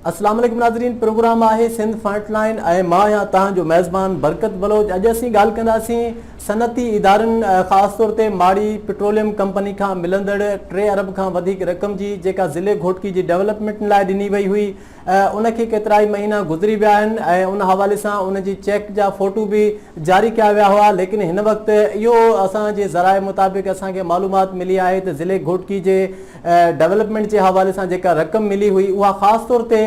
اسلام عليڪم ناظرين پروگرام آهي سنڌ فرنٽ لائن ۽ مان آهيان توهان جو ميزبان برڪت بلوچ اڄ اسين ڳالهه ڪنداسين صنعتي ادارن خاص طور تي ماڙي پيٽروليم ڪمپني کان ملندڙ ٽي ارب کان وڌيڪ رقم جي جيڪا ضلعي گهوٽڪي جي ڊولپمينٽن لاء ڏني وئي هئي ان کي ڪيترائي مهينا گذري ويا آهن ۽ ان حوالي سان ان جي چيڪ جا فوٽو به جاري ڪيا ويا هئا ليڪن هن وقت اهو اسان جي ذرائع مطابق اسان کي معلومات ملي آهي ته ضلعي گهوٽڪي جي ڊيولپمينٽ جي حوالي سان جيڪا رقم ملي هئي اها خاص طور تي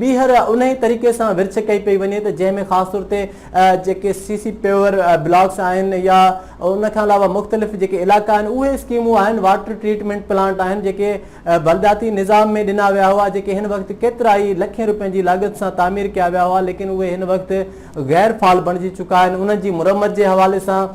ٻيهر انهي طريقي سان ورڇ ڪئي پئي وڃي ته جنهن ۾ خاص طور تي جيڪي سي سي پيور بلاڪس آهن يا ان کان علاوه مختلف جيڪي علائقا آهن اهي اسڪيمون آهن واٽر ٽريٽمينٽ پلانٽ آهن جيڪي بلدياتي نظام ۾ ڏنا ويا هئا جيڪي هن وقت ڪيترائي لکين روپين جي لاڳت سان تعمير ڪيا ويا هئا ليڪن اهي هن وقت غير فعال بڻجي چڪا آهن انهن جي مرمت جي حوالي سان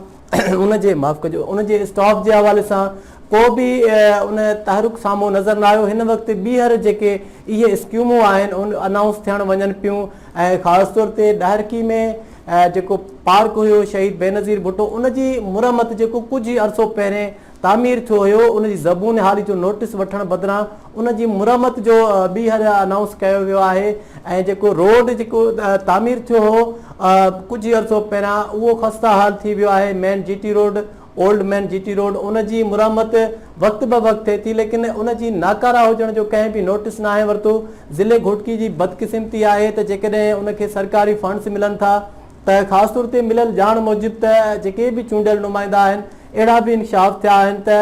ان جي معاف ڪجو ان جي اسٽاف جي حوالي سان ڪو به ان تحرڪ سامهون نظر نه آيو هن وقت ٻيهر جيڪي اهي اسڪيمون آهن ان انائونس ٿيڻ وڃن پيون ۽ خاص طور تي ڏاهرڪي ۾ جيڪو پارڪ هيو شهيد بينظير ڀٽو ان جي مرمت جيڪو ڪجهه عرصو پهرين تعمير ٿيو هيو ان جي زبون حالي جو نوٽس وٺڻ بدران ان جي مرمت جو ٻيهر انائونس ڪيو ويو آهي ۽ جيڪو روڊ جيڪو تعمير ٿيو هو ڪجهه عرصو پهريان اهو خسته حال ٿي ويو آهي main G T road old main G T road ان جي مرمت وقت به وقت ٿئي ٿي ليڪن ان جي ناڪارا هجڻ جو ڪنهن به نوٽس ناهي ورتو ضلعي گهوٽڪي جي بدقسمتي آهي ته جيڪڏهن ان کي سرڪاري فنڊس ملن ٿا ته خاص طور تي مليل ڄاڻ موجب ته جيڪي به چونڊيل نمائندا آهن اهڙا به انڪشاف ٿيا آهن ته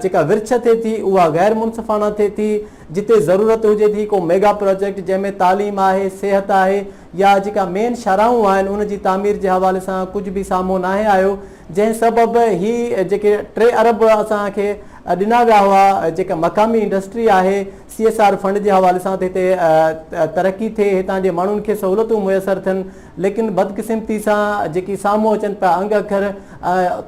جيڪا ورڇ ٿئي ٿي اها غير منصفانه ٿئي ٿي جتي ضرورت هجي ٿي ڪو ميگا پراجيڪٽ جنهن ۾ تعليم آهي صحت آهي يا جيڪا مين شاهراهون آهن ان جي تعمير جي حوالي سان ڪجهه به سامهون ناهي آيو جنهن سبب هي جيڪي ٽي ارب اسان کي ڏنا ويا هئا جيڪا مقامي انڊسٽري آهي سي ايس آر فنڊ جي حوالي سان ته هتي ترقي ٿئي هتان جي ماڻهن کي سهولتون ميسر ٿين ليڪن بدقسمتي سان جيڪي سامهون اچن پيا انگ اکر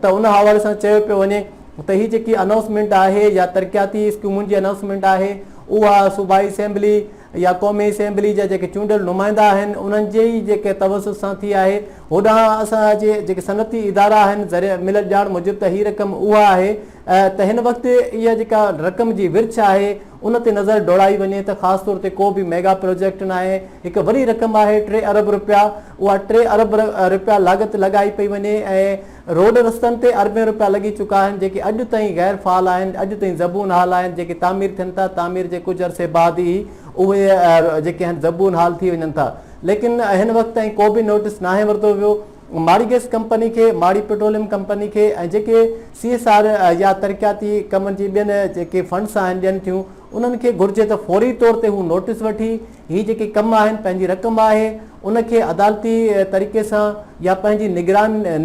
ته ان حوالي سان چيو پيو وڃي ته هي جيڪي انائونسمينٽ آهي يا ترقياتي اسڪيمن جي انائونسمينٽ آهي اها صوبائي اسيمبلي يا قومي اسيمبلي جا جيڪي چونڊيل نمائندا آهن انهن جي ئي جيڪي توسط سان ٿي آهي هوڏانهن اسان جي جيڪي صنعتي ادارا آهن ملل ڄاڻ موجب ته هي رقم اها آهي ته هن وقت اها جيڪا رقم جي ورڇ آهي ان تي نظر ڊوڙائي وڃي ته خاص طور تي ڪو به ميگا پروجيڪٽ ناهي هڪ وڏي رقم آهي ٽي ارب رپيا اها ٽي ارب رپيا لاڳت لڳائي پئي وڃي ۽ روڊ رستن تي اربين رپيا لڳي چڪا آهن جيڪي اڄ تائين غير فعال آهن اڄ تائين زبون حال آهن جيڪي تعمير ٿين ٿا تعمير جي ڪجهه عرصي بعد ئي اهي جيڪي آهن زبون حال ٿي وڃن ٿا ليڪن هن وقت تائين ڪو به نوٽس ناهي ورتو ويو ماڙي گئس ڪمپني کي، ماڙي پيٽروليم ڪمپني کي ۽ جيڪي سي ايس آر يا ترقياتي ڪمن جي ٻين جيڪي فنڊس آهن ڏين ٿيون انهن کي گهرجي ته فوري طور تي هو نوٽيس وٺي هي جيڪي ڪم آهن پنهنجي رقم آهي ان کي عدالتي طريقي سان يا پنهنجي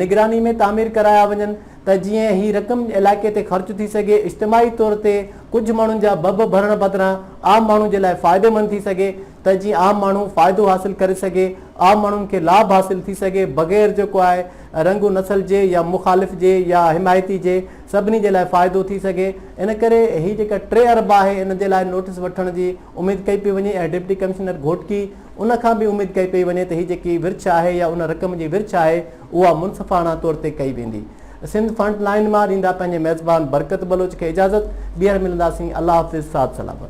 نگراني ۾ تعمير ڪرايا وڃن ته جيئن هي رقم علائقي تي خرچ ٿي سگهي اجتماعي طور تي ڪجهه ماڻهن جا ڀڀ ڀرڻ بدران عام ماڻهو جي لاء فائديمند ٿي سگهي ته جيئن عام ماڻهو فائدو حاصل ڪري سگهي، عام ماڻهن کي لاڀ حاصل ٿي سگهي بغير جو ڪو آء رنگ و نسل جي يا مخالف جي يا حمايتي جي سڀني جي لاء فائدو ٿي سگهي ان ڪري هي جيڪا ٽي ارب آهي ان جي لاء نوٽيس وٺڻ جي اميد ڪئي پئي وڃي ۽ ڊپٽي ڪمشنر گهوٽڪي ان کان به اميد ڪئي پئي وڃي ته هي جيڪي ورڇ آهي يا ان رقم جي ورڇ آهي اها منصفاڻا طور تي ڪئي ويندي سنڌ فرنٽ لائين مان ڏيندا پنهنجي ميزبان برڪت بلوچ کي اجازت ٻيهر ملنداسين الله حافظ ساٿ سلامت.